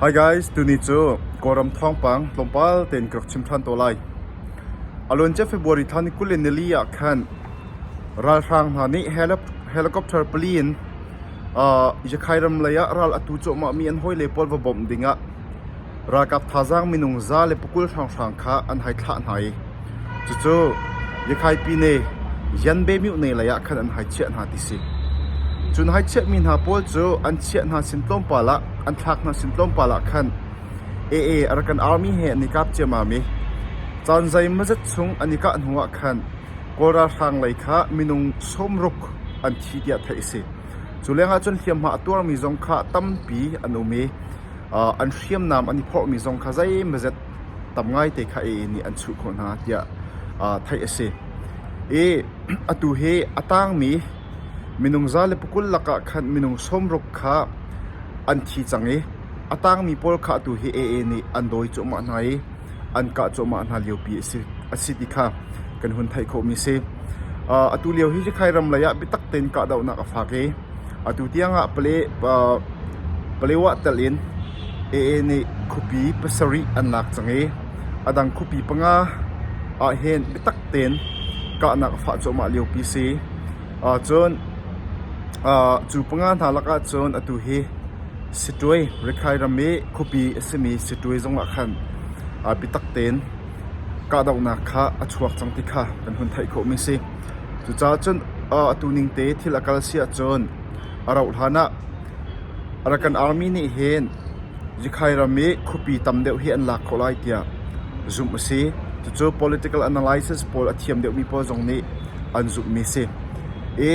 Hi guys, tuni cu Kawlram thawngpang tlawmpal tein ka rak chim ṭhan tawn lai. A luancia February thla ni kul in nili ah khan ralhrang hna nih helicopter pali in Yakhai ram lei ah ral atu cuahmahmi an hawile pawl va bawmh dingah Ralkap thazaang minung za le pakul hranghrang kha an hei thlah hna i cucu Yakhaipine Yanbemyuh ne lei ah khan an hei chiah hna ti si. Cun hei chiahmi hna pawl cu an chiah hna sin tlawmpal ah an thlak hna sin tlawmpal ah khan AA Arakan Army he an i kap ciammam i caan zeimawzet chung an i kah hnu ah khan Kawl ralhrang lei kha minung sawmruk an thi tiah theih a si. Cu lengah cun hliamhma a tuarmi zong kha tampi an um i an hriamnam an i phorhmi zong kha zeimazet tam ngaite kha a inn i an chuh khawh hna tiah theih a si. I atu hi a tangmi minung za le pakul lakah khan minung sawmruk kha an thi cang i a tangmi pawl kha atu hi a inn i an dawi cuahmah hna i an kah cuahmah hna liopi a si ti kha kan hun theih khawhmi a si. Atu lio hi Rakhine ram lei ah biatak tein kahdohnak a fak i atu tiangah Palewa telh in AA nih khuapi pasarih an lak cang i a dang khuapi panga ah hin biatak tein kahnak a fah cuahmah liopi a si. Cun cu panga hna lakah cun atu hi Siṭuai Rikhai ram i khuapi a simi siṭuai zongah khan arpi tak tein kahdohnak kha a chuak cang ti kha kan hun theih khawhmi a si. Cucaah cun atu ning te thil a kal si ahcun a rauhhlan ah Arakan army nih hin Rikhai ram i khuapi tam deuh hi an lak khawh lai tiah zumh a si. Cucu political analysis pawl a thiam deuhmi pawl zong nih an zumhmi a si. I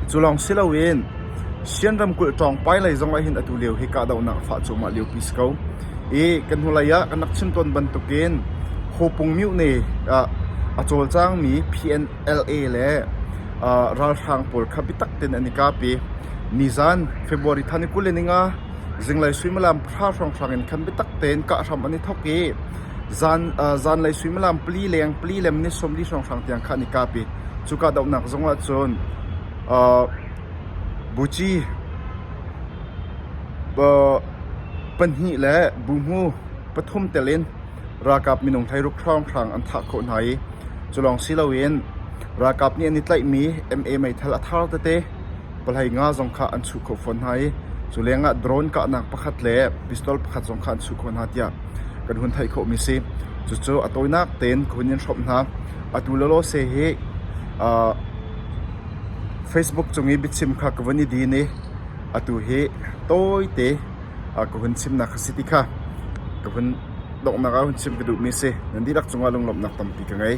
cu lawng si loin Sian ramkulh Ṭawngpai lei zong ahhin atu lio hi kahdohnak a fah cuahmah liopi si ko. I kan hnulei ah kan rak chim tawn bantukin Hopung Myone ah a cawlcangmi PNLA le ralhrang pawl kha biatak tein an i kap i nizan February thla ni kul in inga zinglei suimilam pahra hrawnghrang in khan biatak tein kah hram an i thawk i zanlei suimilam pali leng pali lem ni sawmli hrawnghrang tiang kha an i kap i cu kahdohnak zong ahcun Buci pahnih le buhmu pathum telin ralkap minung hleiruk hrawnghrang an thah khawh hna i culawng si loin ralkap nih an i tlaihmi MA meithal a thar tete palhei nga zong kha an chuh khawh fawn hna i cu lengah drone kahnak pakhat le pistol pakhat zong kha an chuh khawh hna tiah kan hun theih khawhmi a si. Cucu a tawinak tein ka hun in hrawmh hna. Atu lawlaw se hi Facebook cung i biachim kha ka vun i din i atu hi tawite ka hun chimnak a si ti kha ka vun donghnak ah hun chim ka duhmi a si. Nan dihlak cungah lunglawmhnak tampi ka ngei.